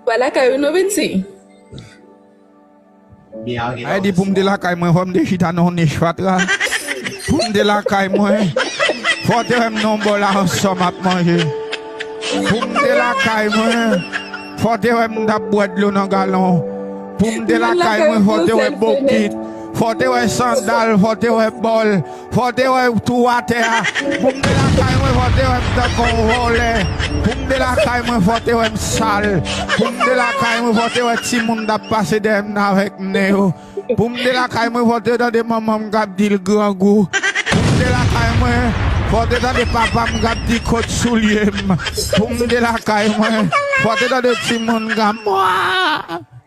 Wa lakay ou non piti. Mwen di poum te lakay mwen fòm te chita nan yon nich fatra poum te lakay mwen fò te wèm nan yon bòl aransò map manje poum te lakay mwen fò te wèm tap bwè dlo nan galon poum te lakay mwen fò te wè bokit fò te wè sandal fò te wè bòl. Fò te wè w tou atè a Pou m de lakay mwen fò te wè m tankou yon vòlè Pou m de lakay mwen fò te wè m sal Pou m de lakay mwen fò te wè timoun t ap pase dèyè m nan avèk nen yo Pou m de lakay mwen fò te tande manman m k ap di l grangou Pou m de lakay mwen fò te tande papa m k ap di kot soulye m Pou m de lakay mwen fò te tande timoun k ap mwaa.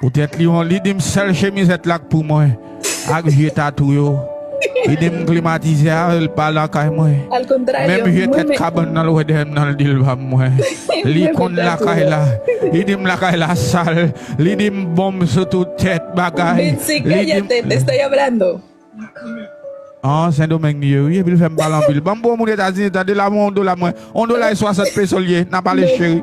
Poutèt li yon li dim sèl chemizèt la k pou mwen ak vye tatou yo li dim m klimatize avèl pa lakay mwen menm vye tèt kabann nan l wè dèyè m nan li dil pa mwen li konn lakay la li dim lakay la sal li dim bonm sou tout tèt bagay li dim. An sendomeng li ye wi epil fèm pale anpil banm bon moun etazini tande la mwen on dola mwen on dola e 60 peso li ye nap ale cheri.